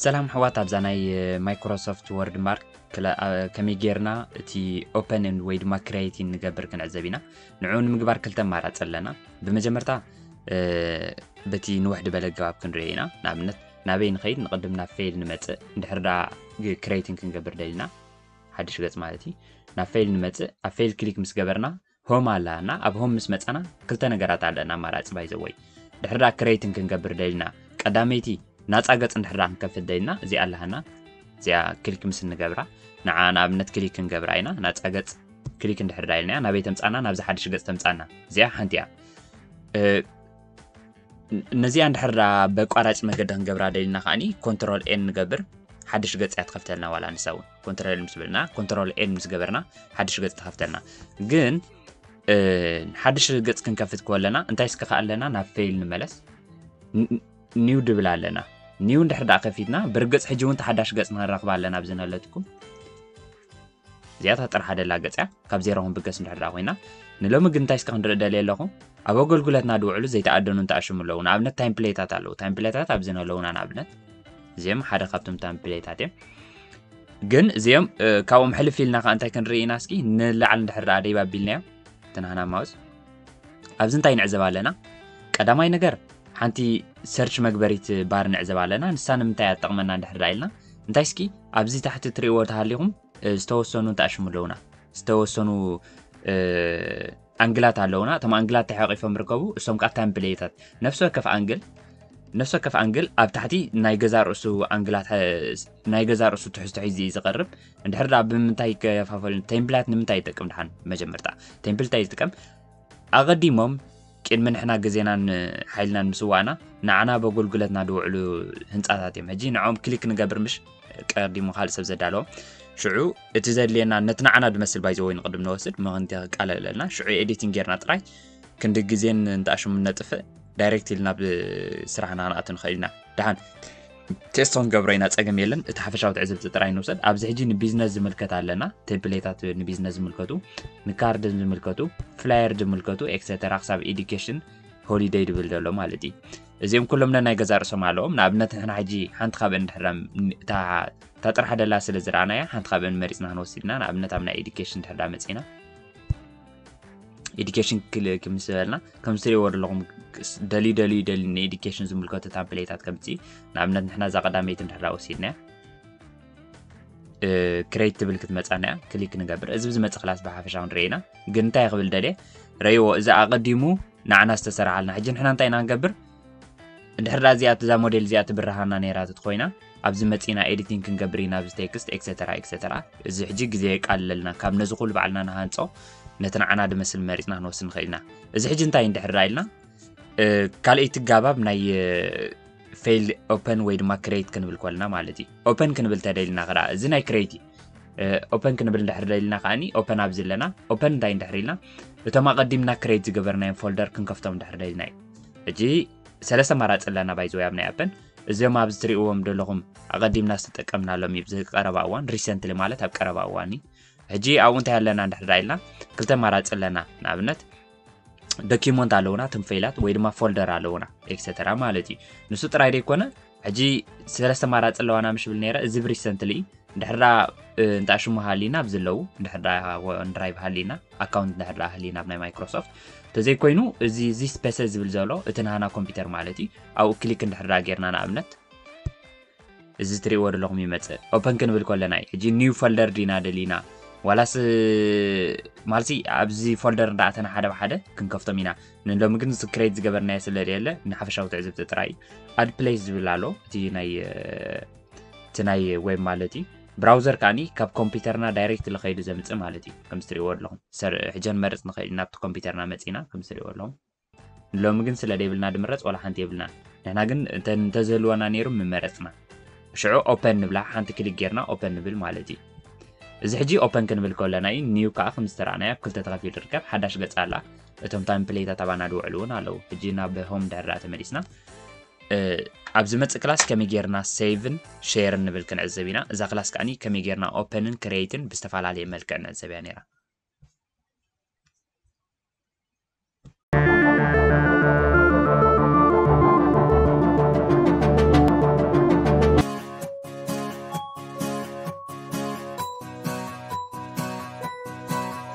ሰላም ኣሕዋት ኣብዛ ናይ ማይክሮሶፍት ወርድ ማርክ ከመይ ጌርና እቲ ኦፐንን ወይ ድማ ክሬቲን ንገብር ክንዕዘብ ኢና ንዕኡ ንምግባር ክልተ ኣማራፂ ኣለና ብመጀመርታ በቲ ንውሕዲ በለ ገባብ ክንሪኦ ኢና ንኣብነት ናበይ ንኸይድ ንቕድም ናብ ፌል ንመፅእ እንድሕር ዳ ክሬቲን ክንገብር ደሊና ሓድሽ ገጽ ማለት እዩ ናብ ፋይል ንመጽእ ኣብ ፋይል ክሊክ ምስ ገበርና ሆም ኣላና ኣብ ሆም ምስ መጻና ክልተ ነገራት ኣለና ኣማራጺ ባይዘወይ ድሕሪ ዳ ክሬትን ክንገብር ደልና ቀዳመይቲ ናጻ ገጽ እንድሕር ዳ ክንከፍት ደልና እዚኣ ኣላሃና እዚኣ ክሊክ ምስ እንገብራ ንዓ ንኣብነት ክሊክ ክንገብራ ኢና ናጻ ገጽ ክሊክ እንድሕር ዳ ኢልና ናበይ ተምጻና ናብዚ ሓድሽ ገጽ ተምጻና እዚኣ ሓንቲ እያ ነዚኣ እንድሕር በቋራጭ መገዲ ክንገብራ ደሊና ከዓኒ ኮንትሮል ኤን ንገብር ሓድሽ ገፅ እያ ትኸፍተልና ዋላ ንሳ እውን ኮንትሮል ምስ በልና ኮንትሮል ኤን ምስ ገበርና ሓድሽ ገፅ ትኸፍተልና ግን ሓድሽ ገፅ ክንከፍት ከለና እንታይ ስከ ከዓ ኣለና ናብ ፌይል ንመለስ ኒው ድብል ኣለና ኒው እንድሕር ደኣ ከፊትና ብርግፅ ሕጂ እውን ተሓዳሽ ገፅ ንረኽባ ኣለና ብዝነለትኩም እዚኣ እታ ጥራሕ ደላ ገጽ እያ ካብ ዜሮ ክንብገስ እንድሕር ደኣ ኮይና ንሎሚ ግን እንታይ እስከ ክንርኢ ደልየ ኣለኹ ኣብ ኣገልግሎትና ድውዕሉ ዘይተኣደኑ እንተኣሽሙ ኣለዉ ንኣብነት ታይም ፕሌታት ኣለዉ ታይም ፕሌታት ኣብዚ ኣለዉና ንኣብነት እዚኦም ሓደ ካብቶም ታይም ፕሌታት እዮም ግን እዚኦም ካብኦም ሕልፍ ኢልና ከዓ እንታይ ክንርኢ ኢና እስኪ ንላዕሊ እንድሕር ደኣ ደይብ ኣቢልናዮ ትናህና ማውስ ኣብዚ እንታይ ንዕዘብ ኣለና ቀዳማይ ነገር ሓንቲ ሰርች መግበሪት ባር ንዕዘብ ኣለና ንሳ ንምንታይ እያ ትጠቕመና እንድሕር ደኣ ኢልና እንታይ እስኪ ኣብዚ ታሕቲ እትሪእዎ ተሃሊኹም ዝተወሰኑ ተኣሽሙ ኣለውና ዝተወሰኑ ኣንግላት ኣለውና እቶም ኣንግላት ተሓቂፎም ይርከቡ እሶም ከዓ ታይም ብለየታት ነፍሲ ወከፍ ኣንግል ነፍሲ ወከፍ ኣንግል ኣብ ታሕቲ ናይ ገዛ ርእሱ ኣንግላት ናይ ገዛ ርእሱ ትሕዝቶ ሒዙ እዩ ዝቐርብ እንድሕር ዳ ብምንታይ ይከፋፈል ቴምፕላት ንምንታይ ይጠቅም ድሓን መጀመርታ ቴምፕል እንታይ ዝጥቀም ኣቐዲሞም ቅድሚ ንሕና ግዜናን ሓይልናን ምስዋእና ንዓና በጎልጉለትና ዝውዕሉ ህንፃታት እዮም ሕጂ ንዕኦም ክሊክ ንገብር ምሽ ቀዲሙ ካልእ ሰብ ዘዳለዎ ሽዑ እቲ ዘድልየና ነቲ ንዓና ዝመስል ባይዘ ወይ ንቅድም ንወስድ ምክንቲ ክቃለለልና ሽዑ ኤዲቲንግ ጌርና ጥራይ ክንዲ ግዜን እንተኣሽሙ ነጥፍእ ዳይሬክት ኢልና ናብ ስራሕና ክንኣቱ ንኽእል ኢና ድሓን ቴስቶን ገብሮ ኢና ጸገም የለን እቲ ሓፈሻዊ ትዕዝብቲ ጥራይ ንውሰድ ኣብዚ ሕጂ ንቢዝነስ ዝምልከት ኣለና ቴምፕሌታት ንቢዝነስ ዝምልከቱ ንካርድ ዝምልከቱ ፍላየር ዝምልከቱ ኤክሰተራ ክሳብ ኤዱኬሽን ሆሊደይ ድብል ዘሎ ማለት እዩ እዚኦም ኩሎም ነናይ ገዛ ርእሶም ኣለዎም ንኣብነት ንሕና ሕጂ ሓንቲ ካብአን ድሕር እታ ጥራሕ ደላ ስለ ዝረኣናያ ሓንቲ ካብአን መሪፅና ክንወስድና ንኣብነት ኣብ ናይ ኤዱኬሽን ድሕር መፂና ኤዲኬሽን ክልክ ምስ በልና ከም ትሪእዎ ዘለኹም ደልዩ ደልዩ ደልዩ ንኤዲኬሽን ዝምልከቱ ታምፕሌታት ከምፂ ንኣብነት ንሕና እዛ ቀዳመይቲ ንድሕራ ወሲድና ክሬት ትብል ክትመፃና እያ ክሊክ ንገብር እዚ ብዝመፅ ክላስ ብሓፈሻ ክንርኢ ኢና ግን እንታይ ክብል ደልየ ረእይዎ እዚ ኣቐዲሙ ንዓና ዝተሰርሓልና ሕጂ ንሕና እንታይ ኢና ንገብር እንድሕር እዚኣ እዛ ሞዴል እዚኣ ትብርሃና ነይራ ተትኮይና ኣብዚ መፂና ኤዲቲንግ ክንገብር ኢና ኣብዚ ቴክስት ኤክሰተራ ኤክሰተራ እዚ ሕጂ ግዜ የቃልለልና ካብ ነዚ ኩሉ ባዕልና ንሃንፆ ነቲ ንዓና ድመስል መሪፅና ክንወስድ ንኽእል ኢና እዚ ሕጂ እንታይ እንድሕር ዳ ኢልና ካልኣይቲ ጋባብ ናይ ፌል ኦፐን ወይ ድማ ክሬት ክንብል ኮልና ማለት እዩ ኦፐን ክንብል ተደልና ክዳ እዚ ናይ ክሬት እዩ ኦፐን ክንብል እንድሕር ደልና ከዓኒ ኦፐን ኣብዚ ኣለና ኦፐን እንታይ እንድሕር ኢልና እቶም ኣቐዲምና ክሬት ዝገበርናዮም ፎልደር ክንከፍቶም እንድሕር ደልና እዩ ሕጂ ሰለስተ ኣማራጺ ኣለና ባይ ዘወይ ኣብ ናይ ኣፕን እዚኦም ኣብዚ ትርእዎም ዘለኹም ኣቐዲምና ዝተጠቀምናሎም እዩ ብዚ ቀረባ እዋን ሪሰንትሊ ማለት ኣብ ቀረባ እዋን እዩ ሕጂ ኣብኡ እንታይ ኣለና እንድሕዳ ኢልና ክልተ ኣማራፂ ኣለና ንኣብነት ዶኪመንት ኣለውና ትም ፈይላት ወይ ድማ ፎልደር ኣለውና ኤክሰተራ ማለት እዩ ንሱ ጥራይ ዘይኮነ ሕጂ ሰለስተ ኣማራጺ ኣለዋና ምሽ ብል ነረ እዚ ሪሰንትሊ ድሕራ እንታ ሽሙ ሃሊና ኣብዚ ኣለዉ ድሕራ ድራይቭ ሃሊና ኣካውንት ድሕራ ሃሊና ኣብ ናይ ማይክሮሶፍት እንተዘይኮይኑ እዚ እዚ ስፔሰ ዝብል ዘሎ እቲ ናሃና ኮምፒውተር ማለት እዩ ኣብኡ ክሊክ እንድሕራ ጌርና ንኣብነት እዚ ትሪእዎ ዘለኹም ይመፅእ ኦፐን ክንብል ከለና እዩ ሕጂ ኒው ፎልደር ዲና ደሊና ዋላስ ማለት ኣብዚ ፎልደር እንዳኣተና ሓደ ብሓደ ክንከፍቶም ኢና ንሎሚ ግን ክሬት ዝገበርናዮ ስለዘየለ ንሓፈሻዊ ትዕዝብቲ ጥራይ እዩ ኣድፕሌስ ዝብል ኣሎ እቲ ናይ ዌብ ማለት እዩ ብራውዘር ከዓኒ ካብ ኮምፒውተርና ዳይሬክት ልኸይዱ ዘምፅእ ማለት እዩ ከም ዝትሪእዎ ኣለኹም ሕጀን መርፅ ንኸእል ናብቲ ኮምፒውተርና መፂና ከም ዝትሪእዎ ኣለኹም ሎሚ ግን ስለ ዘይብልና ድምረፅ ዋላ ሓንቲ የብልና ንሕና ግን እንተዝህልወና ነይሩ ምመረፅና ሽዑ ኦፐን ንብላ ሓንቲ ክሊክ ጌርና ኦፐን ንብል ማለት እዩ እዚ ሕጂ ኦፐን ክንብል ከለና እዩ ኒው ከዓ ከም ዝተረኣናዮ ኣብ ክልተ ተኸፊሉ ይርከብ ሓዳሽ ገፅ ኣላ እቶም ታይም ፕሌታት ኣባና ድውዕሉ እውን ኣለዉ ሕጂ ናብ ሆም ድሕር ድኣ ተመሊስና ኣብ ዝመፅእ ክላስ ከመይ ጌርና ሴቭን ሼርን ንብል ክንዕዘብ ኢና እዛ ክላስ ከዓኒ ከመይ ጌርና ኦፐንን ክሬትን ብዝተፈላለየ መልክዕ ንዕዘብ እያ ነይራ